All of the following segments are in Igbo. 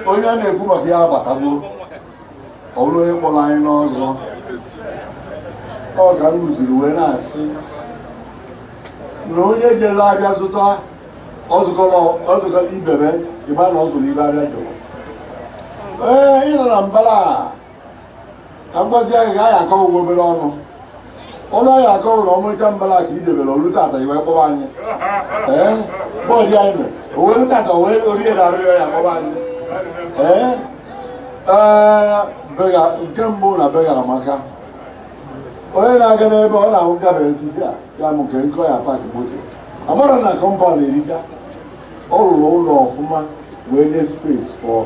onye a na-ekwu maka ya abatagbo ọ bụrụ onye kpọrọ anyị n'ọzọ ọ ka m rụziri wee na-asị na onye jere afịa zụta ọzụkọrọ ibebe ị ma na ọ zụrụ ife afịa jụrụ ee ị nọ na mbara a ka m gwazie gị ka anyị akọwa ụgwọ obere ọnụ ọnụ anyị akọwa na ọmarịcha mbara ka idebere olu tata i wee kpọwa anyị ee bọọdụ anyị nọ owere tata wee orie na arịọ ya kpọwa anyị ee ee bega nke mbụ na bega amaka onye na-aga n'ebe ọ na-ahụ gafe esi ya ya mụ nke nkọ ya park moto a mara na kọmpaụnd erika ọ rụrụ ụlọ ọfụma wee nye space for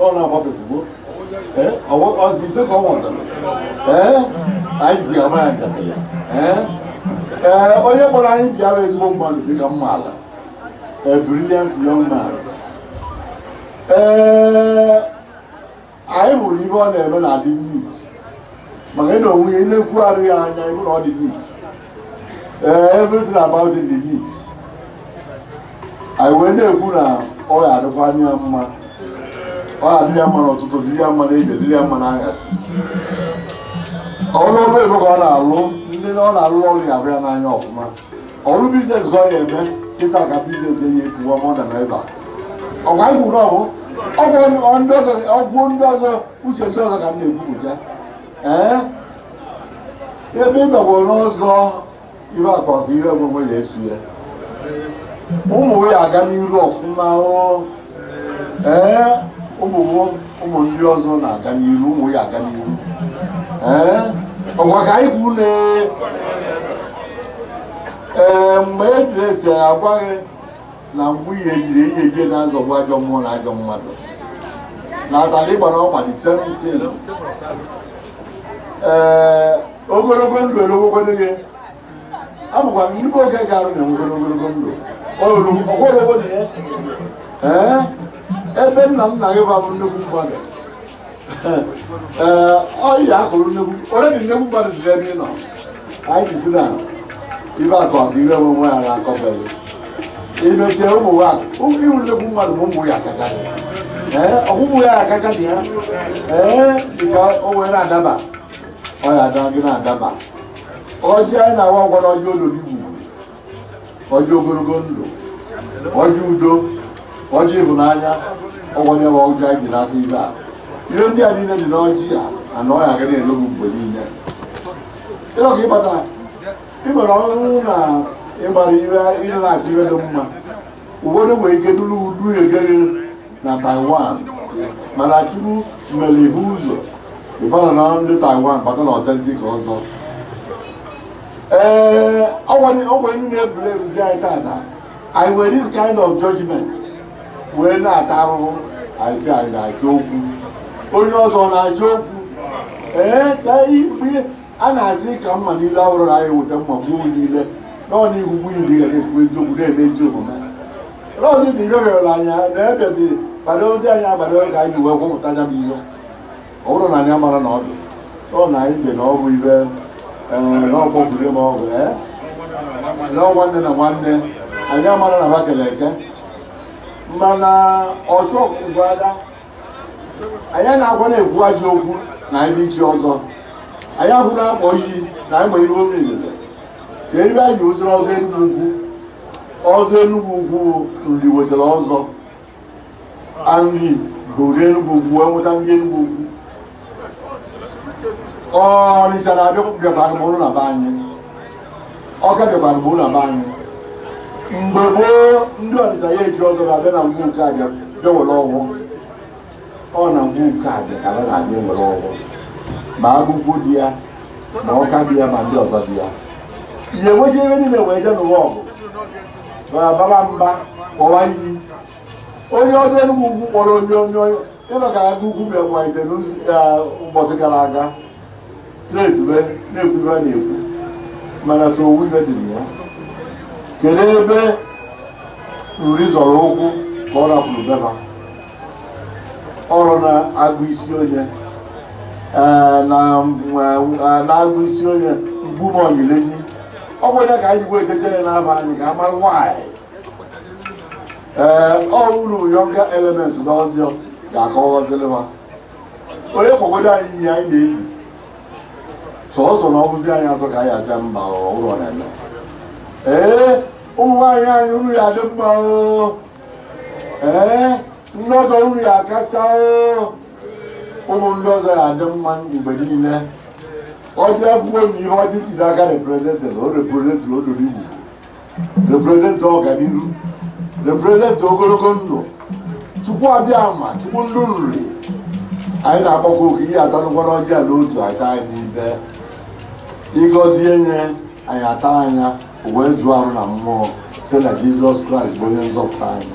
ọ na-agbapụ ozugbo ee ọwụ ọzi ije ka ọ nwụtara ee anyị bịa ama ya njakịrị ya ee ee onye kpọrọ anyị bịa bụ ezigbo mmadụ dị ka m maara a brilliant young man ee anyị hụrụ ihe ọ na-eme na-adị neat maka na onwe ya ị na-ekwugharị ya anya ị hụ na ọ dị neat Eh, everything about it is neat. anyị wee na-ekwu na ọ ga-adịkwara ya mma ọ ga-adị ya mma n'ụtụtụ dị ya mma n'ehihie dị ya mma n'anyasị ọ bụrụ ọrụ ebe ka ọ na-alụ ndị ọ na-alụ ọrụ ya afụ ya n'anya ọfụma ọ bụrụ business ka ọ ga-eme kịta ka business ga-enye ekwuwa mọda na ebe a ọgwa anyị kwuru okwu okwu ndị ọzọ uche ndị ọzọ ka m na-ekwupụta ee ebe ị bagwo n'ụzọ ibe akwa bụ ihe ọgwụgwọ ya esu ya ụmụ ya aga n'iru ọfụma o ee ụmụ ụmụ ndị ọzọ na-aga n'iru ụmụ ya aga n'iru ee ọgwa ka anyị kwuru ee mgbe e jiri eti agwaghị na mgbe ihe ejiri ihe ejie na-azọgbu ajọ mmụọ na ajọ mmadụ na abalị gbara ọkwa dị seventeen ee ogologo ndụ erogogolo ihe abụkwa m ndị oge ga-arụ na-enwegoro ogologo ndụ ogologo na ya ee ebe nna nna gị bụbu nnukwu mmadụ ọyị akụrụ nnukwu onye dị nnukwu mmadụ jiri ebe ị nọ anyị jizi na ife akụ akụ ife enwe enwe ya na-akọbeghị imechie ụmụ nwa ị wụ nnukwu mmadụ bụ ụmụ ya kacha dị ee ọgwụgwụ ya akacha dị ya ee dịka o wee na-adaba ọ ya ada gị na-adaba ọjị anyị na-awa gwara ọjị olulu igwu ọjị ogologo ndụ ọjị udo ọjị ịhụnanya ọgwanye bụ ọjị anyị ji n'aka ibe a ihe ndị a niile dị n'ọjị a anọ ya aga na-elobu mgbe niile ịlọ ka ịbata ị nwere ọrụ na ịgbara ire ịdị na-achọ ibe dị mma ụfọdụ nwere ike duru udu egere na taiwan mana chukwu mere ihe ụzọ ịbara na ndị taiwan bata na authentic ọzọ ee ọgwa ndị na-ebuli ebu dị anyị tata anyị nwere this kind of judgment wee na-ata ahụhụ anyị si anyị na-achọ okwu onye ọzọ na-achọ okwu ee ka ikpe a na-asị ka mma niile ọhụrụ na anyị weta mma gbuo niile nọọ n'ihu nwunye di gara ekwu eziokwu na-eme ezi omume rọzi dị rịọrịọrọ anya na ebe dị gbado ndị anyị agbado ka anyị ji wee gwọpụta ya bụ ihe ọ bụrụ na anyị amara na ọdụ ọ na anyị dị na ọ bụ ibe ee na ọkpọfuru ma ọ bụ ee na ọ nwanne na nwanne anyị amara na ba kele eke mana ọchụ ọkụkọ ada anyị na-agwa na-ekwu ajọ okwu na anyị dị echi ọzọ anyị ahụ na-akpọ iyi na anyị ma ibe obi ilele ka ebe anyị ụzọrọ ọzọ Enugwu Ukwu ọzọ Enugwu Ukwu Nri wetara ọzọ Nri bụ Enugwu Ukwu enweta ndị Enugwu Ukwu Ọnịcha na-abịa bịakwara m ụlọ na be anyị Ọka bịakwara m ụlọ na be anyị mgbe gboo ndị Ọnịcha ya eji ọzọ na-abịa na ngwu nke abịa bịa were ọgwụ ọ na ngwu nke abịa ka a na-abịa were ọgwụ ma Agukwu dị ya ma Ọka dị ya ma ndị ọzọ dị ya ihe nweje ebe niile wee je nụwa ọgụ bawa mba kpọwa iyi onye ọdụ Enugwu Ukwu kpọrọ onye onye onye ịnọkara Agukwu mgbe gwaite ụbọchị gara aga na-ezube na-ekwu ibe a na-ekwu mana ka owu ibe dị na ya kedu ebe Nri zọrọ ụkwụ ka ọ rapụrụ beba ọrọ n'agụ Isi Onye ee, na n'agụ Isi Onye Mkpume Onyilenyi ọ bụ ya ka anyị bụ ejeje ya na be anyị ka amara nwaanyị ee ọ unu younger element na ọjọọ ga-akọwaziri ha onye kpọgodo anyị ihe anyị na-ebi sọsọ na ọbụzi anyị azọ ka anyị aja mba ụlọ na-eme ee ụmụ nwaanyị anyị unu ya adị mma oo ee ndị ọzọ unu ya kacha ụmụ ndị ọzọ ya adị mma mgbe niile ọjị akwụkwọ na ihe ọjị ntụzi aka representiri o representiri obodo Igbo representi ọganihu representi ogologo ndụ chukwu abịama chukwu ndị Nri anyị na-akpọkwa oke ihe atanụkwara ọjị a n'otu ata anyị n'ibe ịgọzie nye anyị taa ya o wee zụọ arụ na mmụọ site na jizọs kraịst bụ onye nzọpụta anyị